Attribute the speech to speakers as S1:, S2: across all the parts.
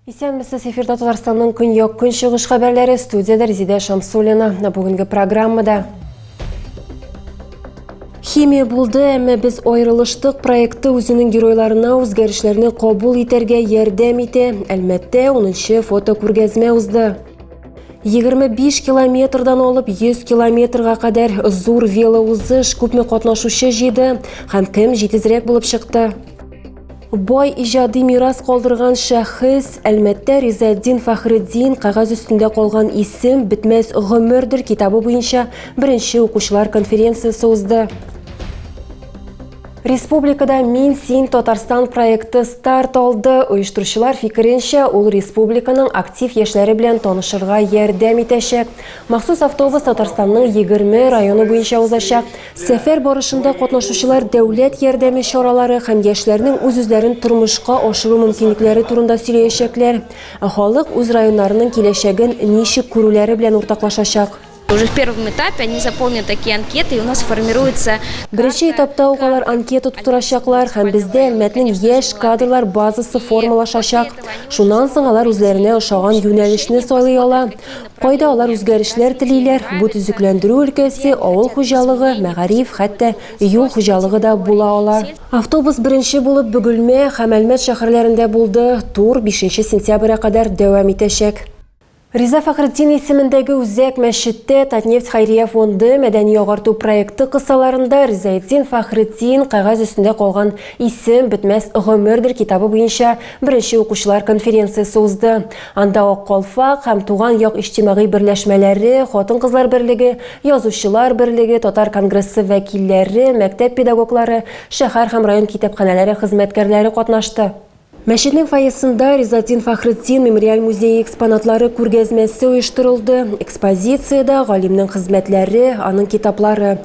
S1: Исәнмесез, эфирда Татарстанның көньяк-көнчыгыш хәбәрләре студияда Резидә Шамсуллина. Бүгенге программада Химия булды, әмма без аерылыштык проекты үзенең геройларына үзгәрешләрне кабул итәргә ярдәм итә. Әлмәттә 10-нчы фотокүргәзмә узды. 25 километрдан алып 100 километрга кадәр зур велоузыш күпме катнашучы җыйды һәм кем җитезрәк булып чыкты? Бай иҗади мирас калдырган шәхес Әлмәттә Ризаддин Фәхреддин кәгазь өстендә калган исем бетмәс гомердер китабы буенча беренче укучылар конференциясе узды. Республикада Мин син Татарстан проекты старт алды. Оештыручылар фикеренчә, ул республиканың актив яшьләре белән танышырга ярдәм итәчәк. Махсус автобус Татарстанның 20 районы буенча узачак. Сәфәр барышында катнашучылар дәүләт ярдәме чаралары һәм яшьләрнең үз-үзләрен тормышка ашыру мөмкинлекләре турында сөйләячәкләр, ә халык үз районнарының киләчәген ничек күрүләре белән уртаклашачак. Уже в первом
S2: этапе они заполнят такие анкеты, и у нас формируется карта. Беренче этапта
S1: ук алар анкета тутырачаклар һәм бездә Әлмәтнең яшь кадрлар базасы формалашачак. Шуннан соң алар үзләренә ошаган юнәлешне сайлый ала. Кайда алар үзгәрешләр телиләр? Бу төзекләндерү өлкәсе, авыл хуҗалыгы, мәгариф, хәтта юл хуҗалыгы да була ала. Автобус беренче булып Бөгелмә һәм Әлмәт шәһәрләрендә булды, тур бишенче сентября кадәр дәвам итәчәк. Риза Фәхретдин исемендәге Үзәк мәчеттә Татнефть хәйрия фонды мәдәни-агарту проекты кысаларында Ризаэтдин Фәхретдин, кәгазь өстендә калган исем, бетмәс гомердер китабы буенча беренче укучылар конференциясе узды. Анда Ак калфак һәм Туган як иҗтимагый берләшмәләре, Хатын-кызлар берлеге, Язучылар берлеге, Татар конгрессы вәкилләре, мәктәп педагоглары, шәһәр һәм район китапханәләре хезмәткәрләре катнашты. Мәчетнең фойесында Ризатдин Фәхретдин мемориаль музее экспонатлары күргәзмәсе оештырылды. Экспозициядә, галимнең хезмәтләре, аның китаплары.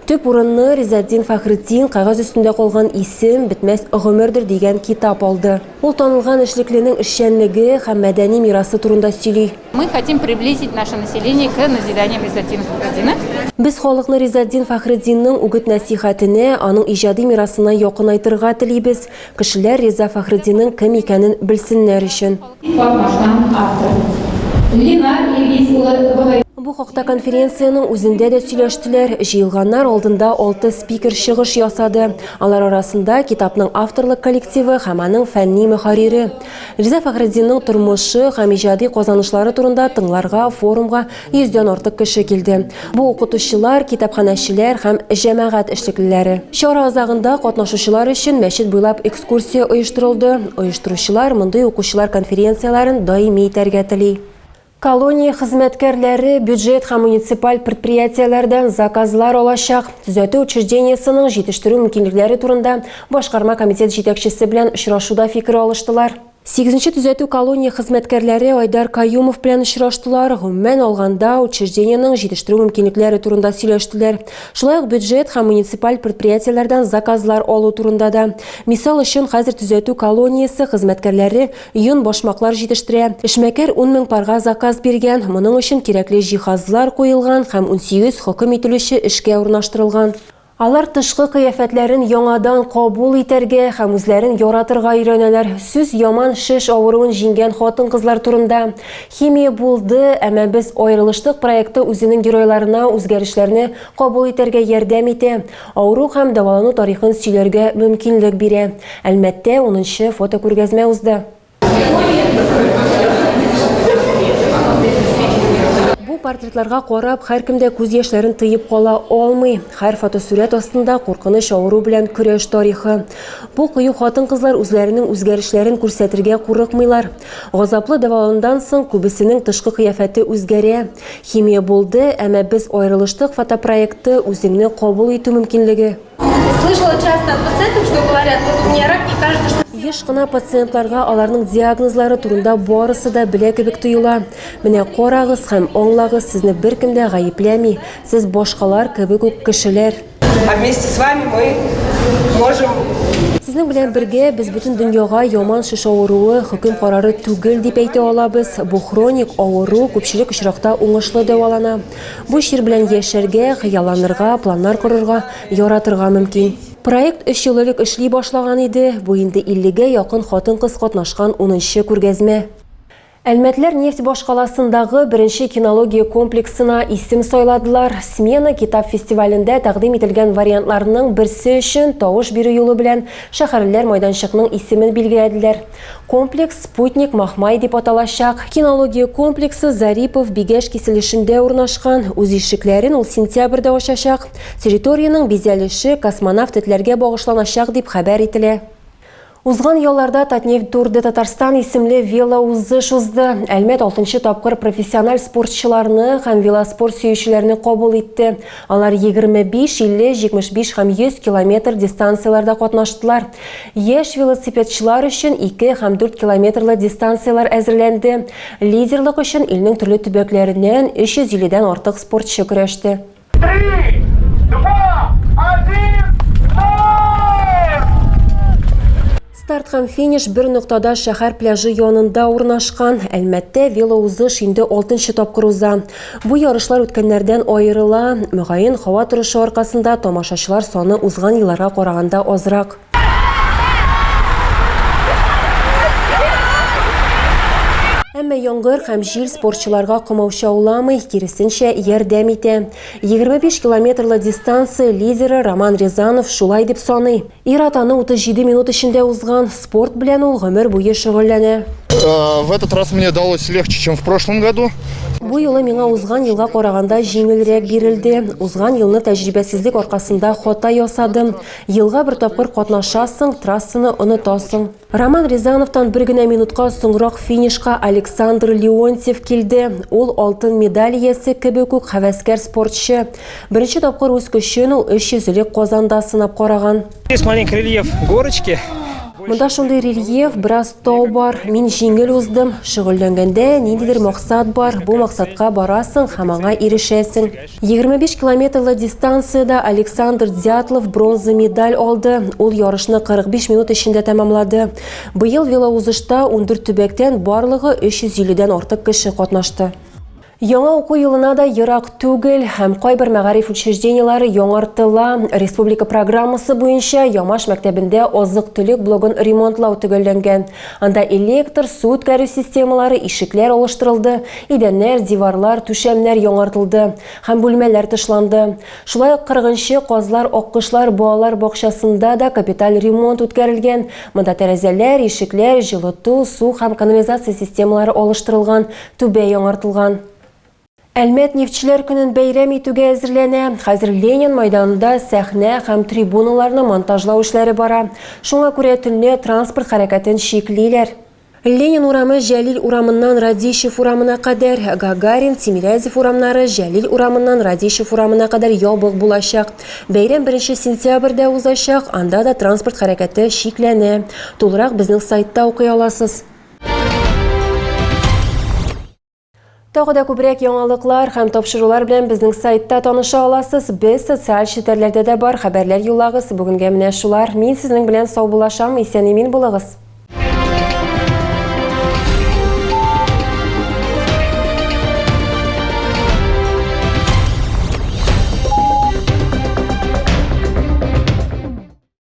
S1: Төп урынны Ризатдин Фәхретдин Кәгазь өстендә калган исем, бетмәс гомердер дигән китап алды. Ул танылган эшлекленең эшчәнлеге һәм мәдәни мирасы турында сөйли. Мы хотим приблизить
S3: наше население к назиданиям Ризатдина Фәхретдина. Без халыкны
S1: Ризатдин Фәхретдинның үгет-нәсыйхәтенә, аның иҗади мирасына якынайтырга телибез, кешеләр Риза Фәхретдинның кем икәнен белсеннәр өчен. Катнашкан автор Ленар Илгиз улы Богаев. Бу хакта конференциянең үзендә дә сөйләштеләр. Җыелганнар алдында алты спикер чыгыш ясады. Алар арасында китапның авторлык коллективы һәм аның фәнни мөхәррире. Риза Фәхретдинның тормышы һәм иҗади казанышлары турында тыңларга форумга йөздән артык кеше килде. Бу укытучылар, китапханәчеләр һәм җәмәгать эшлеклеләре. Чара азагында катнашучылар өчен мәчет буйлап экскурсия оештырылды. Оештыручылар мондый укучылар конференцияләрен даими итәргә тели. Колония хезмәткәрләре бюджет һәм муниципаль предприятиеләрдән заказлар алачак. Төзәтү учреждениесенең җитештерү мөмкинлекләре турында башкарма комитет җитәкчесе белән очрашуда фикер алыштылар. Сигезенче төзәтү колония хезмәткәрләре Айдар Каюмов белән очраштылар. Гомумән алганда, учреждениенең җитештерү мөмкинлекләре турында сөйләштеләр. Шулай ук бюджет һәм муниципаль предприятиеләрдән заказлар алу турында да. Мисал өчен, хәзер төзәтү колониясе хезмәткәрләре Йон, башмаклар җитештерә. Эшмәкәр ун мең парга заказ биргән, моның өчен кирәкле җиһазлар куелган һәм унсигез хөкем ителүче эшкә урнаштырылган. Алар тышкы кыяфәтләрен яңадан кабул итәргә һәм үзләрен яратырга өйрәнәләр. Сүз яман шеш авыруын җиңгән хатын-кызлар турында. Химия булды, әмма без аерылыштык проекты үзенең геройларына үзгәрешләрне кабул итәргә ярдәм итә. Авыру һәм дәвалану тарихын сөйләргә мөмкинлек бирә. Әлмәттә унынчы фотокүргәзмә узды. Бу портретларга карап, һәркем дә күз яшьләрен тыеп кала алмый. Һәр фотосурәт астында, куркыныч авыру белән көрәш тарихы. Бу кыю хатын-кызлар үзләренең үзгәрешләрен күрсәтергә курыкмыйлар. Газаплы дәваланудан соң, күбесенең тышкы кыяфәте үзгәрә. Химия булды, әмма без аерылыштык фотопроекты үзеңне кабул итү мөмкинлеге. Слышала
S4: часто от пациентов, что говорят, вот у меня рак, мне кажется, что Еш кына пациентларга
S1: аларның диагнозлары турында барысы да белә кебек тоела. Менә карагыз һәм аңлагыз, сезне беркем дә гаепләми, сез башкалар кебек үк кешеләр. А вместе с
S5: вами мы можем Сезнең
S1: белән бергә без бөтен дөньяга яман шеш авыруы хөкем карары түгел дип әйтә алабыз. Бу хроник авыру күпчелек очракта уңышлы дәвалана. Бу чир белән яшәргә, хыялланырга, планнар корырга, яратырга мөмкин. Проект 3 ел элек эшли башлаган иде. Бу инде 50 гә якын хатын-кыз катнашкан 10 нчы күргәзмә. Әлмәтләр нефть башкаласындагы беренче кинология комплексына исем сайладылар. Смена китап фестивалендә тәкъдим ителгән вариантларның берсе өчен тавыш бирү юлы белән шәһәрлеләр майданчыкның исемен билгеләделәр. Комплекс Спутник Махмай дип аталачак. Кинология комплексы Зарипов, Бигәш киселешендә урнашкан. Үз ишекләрен ул сентябрьдә ачачак. Территориянең бизәлеше космонавт этләргә багышланачак, дип хәбәр ителә. Узган ялларда Татнефть Тур де Татарстан исемле велоузыш узды. Әлмәт алтынчы тапкыр профессиональ спортчыларны һәм велоспорт сөючеләрне кабул итте. Алар 25, 50, 75 һәм 100 километр дистанцияләрдә катнаштылар. Яшь велосипедчылар өчен 2 һәм 4 километрлы дистанцияләр әзерләнде. Лидерлык өчен илнең төрле төбәкләреннән 350 дән артык спортчы көрәште. Старт һәм финиш бер ноктада шәһәр пляжы янында урнашкан. Әлмәттә велоузыш инде алтынчы тапкыр уза. Бу ярышлар үткәннәрдән аерыла. Мөгаен, һава торышы аркасында тамашачылар саны узган елларга караганда азрак. Әмма яңгыр һәм җил спортчыларга комаучауламый, киресенчә, ярдәм итә. 25 километрлы дистанция лидеры Роман Рязанов шулай дип саный. Ир-ат аны 37 минут эчендә узган, спорт белән ул гомер буе шөгыльләнә. Э, в этот
S6: раз мне далось легче, чем в прошлом году. Бу юлы миңа
S1: узган елга караганда җиңелрәк бирелде. Узган елны тәҗрибәсезлек аркасында хата ясадым. Елга бер тапкыр катнашасың, трассаны онытасың. Роман Рязановтан бер генә минутка соңрак финишка Александр Леонтьев килде. Ул алтын медаль иясе кебек үк хәвәскәр спортчы. Беренче тапкыр үз көчен ул 300 элек Казанда сынап караган. Здесь маленький рельеф
S7: горочки. Монда шундый
S1: рельеф, бераз тау бар. Мин җиңел уздым. Шөгыльләнгәндә, ниндидер максат бар, бу максатка барасың һәм аңа ирешәсең. 25 километрлы дистанциядә Александр Дятлов бронза медаль алды. Ул ярышны 45 минут эчендә тәмамлады. Быел велоузышта 14 төбәктән барлыгы 350-дән артык кеше катнашты. Яңа уку елына да ерак түгел һәм кайбер мәгариф учреждениеләре яңартыла. Республика программасы буенча Ямаш мәктәбендә азык-төлек блогын ремонтлау төгәлләнгән. Анда электр, су үткәрү системалары, ишекләр алыштырылды, идәннәр, диварлар, түшәмнәр яңартылды һәм бүлмәләр тышланды. Шулай ук кырыгынчы Казлар аккошлар балалар бакчасында да капиталь ремонт үткәрелгән, монда тәрәзәләр, ишекләр, җылыту, су һәм канализация системалары алыштырылган, түбә яңартылган. Әлмәт нефтьчеләр көнен бәйрәм итүгә әзерләнә. Хәзер Ленин майданында сәхнә һәм трибуналарны монтажлау эшләре бара. Шуңа күрә төнлә транспорт хәрәкәтен чиклиләр. Ленин урамы Җәлил урамыннан Радищев урамына кадәр, Гагарин, Тимирязев урамнары Җәлил урамыннан Радищев урамына кадәр ябык булачак. Бәйрәм беренче сентябрьдә узачак, анда да транспорт хәрәкәте чикләнә. Тулырак безнең сайтта укый аласыз. Тагы да күбрәк яңалыклар һәм тапшырулар белән безнең сайтта таныша аласыз. Без социаль челтәрләрдә дә бар, хәбәрләр юллагыз. Бүгенгә менә шулар. Мин сезнең белән сау булашам. Исән-имин булыгыз.